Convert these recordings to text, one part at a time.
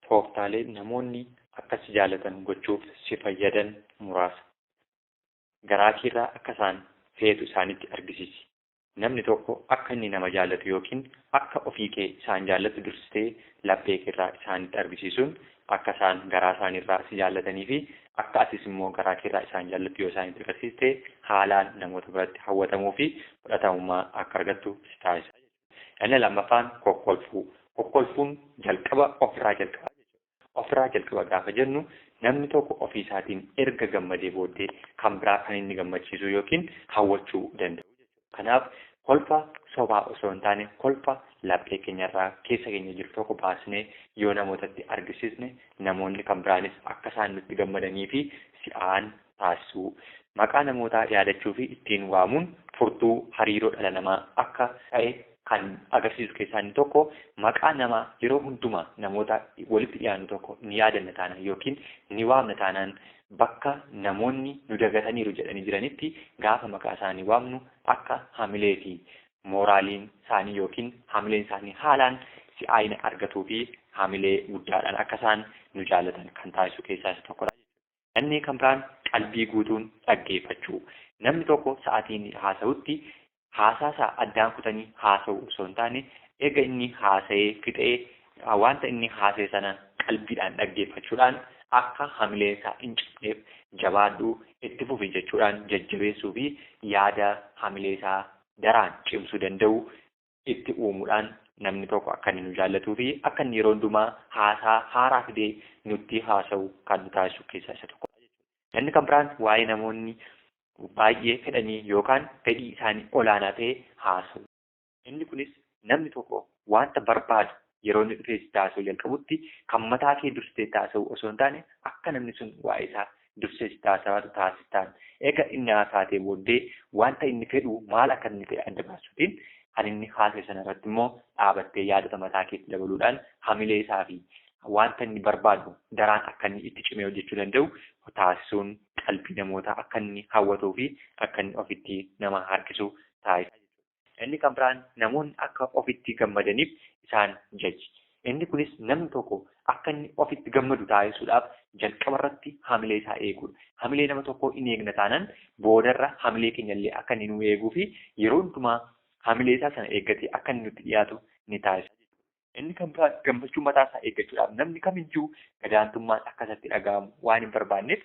Tooftaalee namoonni akka si jaalatan gochuuf si fayyadan muraasa. Garaa keerraa akka isaan feetu isaanitti argisiisi. Namni tokko akka inni nama jaallatu ykn akka ofii kee isaan jaallattu dursitee laphee keerraa isaanitti argisiisuun akka isaan garaa isaaniirraa si jaallatanii fi akka atis immoo garaa keerraa isaan jaallattu yoo isaanitti agarsiiste haalaan namoota biratti hawwatamuu fi fudhatamummaa akka argattu si taasisa jechuudha. Inni lammaffaan kokkolfuu. Kokkolfuun jalqaba ofirraa jalqaba jechuudha. Ofirraa jalqaba gaafa jennu namni tokko ofii isaatiin erga gammadee booddee kan biraa kan inni gammachiisuu yookiin hawwachuu danda'u jechuudha. Kanaaf kolfa sobaa osoo hin taane kolfa laphee keenyarraa keessa keenya jiru tokko baasnee yoo namootatti argisiisne namoonni kan biraanis akka isaan nutti gammadanii fi si'aan taasisuu, maqaa namootaa yaadachuu fi ittiin waamuun furtuu hariiroo dhala namaa akka ta'e kan agarsiisu keessaa inni tokko maqaa nama yeroo hundumaa namoota walitti dhiyaannu tokko ni yaadanna taanaan ykn ni waamna taanaan bakka namoonni nu dagataniiru jedhanii jiranitti gaafa maqaa isaanii waamnu akka hamilee fi mooraaliin isaanii ykn hamileen isaanii haalaan si'aayina argatuu fi hamilee guddaadhaan akka isaan nu jaallatan kan taasisu keessaa isa tokkodha jechuudha. Inni kan biraan qalbii guutuun dhaggeeffachuu. Namni tokko sa'atii inni haasa'utti haasaasaa addaan kutanii haasa'uu osoo hin taane eega inni haasa'ee fixee wanta inni haasa'e sana qalbiidhaan dhaggeeffachuudhaan akka hamileensaa hin cabneef jabaadhu itti fufi jechuudhaan jajjabeessuu fi yaada hamileesaa daraan cimsuu danda'u itti uumuudhaan namni tokko akka inni nu jaallatuu fi akka inni yeroo hundumaa haasaa haaraa fidee nutti haasa'u kan nu taasisu keessaa isa tokkodha jechuudha. Inni kan biraan waa'ee namoonni baay'ee fedhanii yookaan fedhii isaanii olaanaa ta'e haasa'u. Inni kunis namni tokko wanta barbaadu Yeroo inni dhufee sitti haasa'uu jalqabutti kan mataa kee dursitee itti haasa'uu osoo hin taane akka namni sun waa'ee isaa dursee sitti haasa'aatu taasistaan. Eega inni haasaatee booddee wanta inni fedhu maal akka inni ta'e adda baasuutiin kan inni haasa'e sana irratti immoo dhaabattee yaadota mataa keetti dabaluudhaan hamilee isaa fi wanta inni barbaadu daraan akka inni itti cimee hojjechuu danda'u taasisuun qalbii namootaa akka inni hawwatuu fi akka inni ofitti nama harkisu taasisa. Inni kan biraan namoonni akka ofitti gammadaniif isaan jaji. Inni kunis namni tokko akka inni ofitti gammadu taasisuudhaaf jalqaba irratti hamilee isaa eeguudha. Hamilee nama tokkoo in eegna taanaan boodarra hamilee keenya illee akka inni nuu eeguu fi yeroo hundumaa hamilee isaa sana eeggatee akka inni nutti dhiyaatu ni taasisa jechuudha. Inni kan biraa gammachuu mataa isaa eeggachuudhaaf namni kamiyyuu gadaantummaan akka isatti dhaga'amu waan hin barbaanneef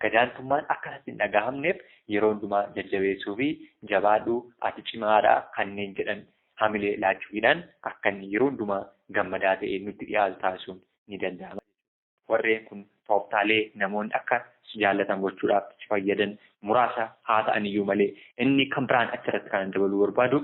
gadaantummaan akka isatti hin dhaga'amneef yeroo hundumaa jajjabeessuu fi jabaadhu ati cimaadha kanneen jedhan hamilee laachuufiidhaan akka inni yeroo hundumaa gammadaa ta'ee nutti dhiyaatu taasisuun ni danda'ama. Warreen kun tooftaalee namoonni akka si jaallatan gochuudhaaf si fayyadan muraasa haa ta'aniyyuu malee inni kan biraan achirratti kan dabaluu barbaadu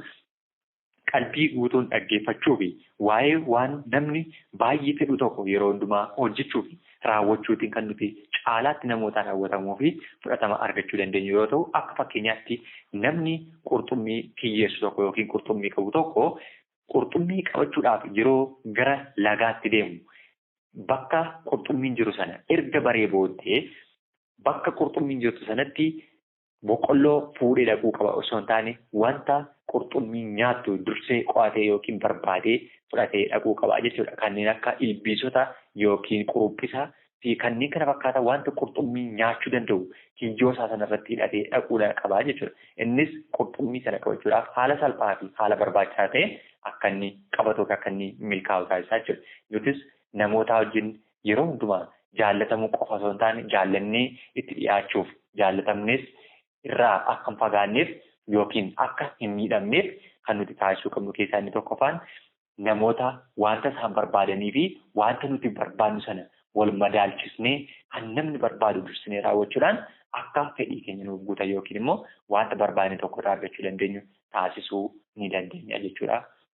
Qalbii guutuun dhaggeeffachuu fi waa'ee waan namni baay'ee fedhu tokko yeroo hundumaa hojjechuu fi raawwachuutiin kan nuti caalaatti namootaan hawwatamuu fi fudhatama argachuu dandeenyu yoo ta'u, akka fakkeenyaatti namni qurxummii kiyyeessu tokko yookiin qurxummii qabu tokko qurxummii qabachuudhaaf yeroo gara lagaatti deemu bakka qurxummiin jiru sana erga baree booddee bakka qurxummiin jirtu sanatti Boqqolloo fuudhee dhaquu qaba osoo hin taane wanta qurxummiin nyaattu dursee qo'atee yookiin barbaadee fudhatee dhaquu qaba jechuudha. Kanneen akka ilbiisota yookiin quruphisa fi kanneen kana fakkaatan wanta qurxummiin nyaachuu danda'u kiyyoo isaa sana irratti hidhatee dhaquu qaba jechuudha. Innis qurxummii sana qabachuudhaaf haala salphaa fi haala barbaachisaa ta'een akka inni qabatu yookiin akka inni milkaa'u taasisaa jechuudha. Nutis namootaa wajjin yeroo hundumaa jaallatamuu qofa osoo hin taane jaallannee itti dhiyaachuuf jaallatamnees irraa akka hin fagaanneef yookiin akka hin miidhamneef kan nuti taasisuu qabnu keessaa inni tokkoffaan namoota wanta isaan barbaadanii fi wanta nuti barbaadnu sana wal madaalchisnee kan namni barbaadu dursinee raawwachuudhaan akka fedhii keenya nuuf guutan yookiin immoo wanta barbaadne tokko irraa argachuu dandeenyu taasisuu ni dandeenya jechuudha.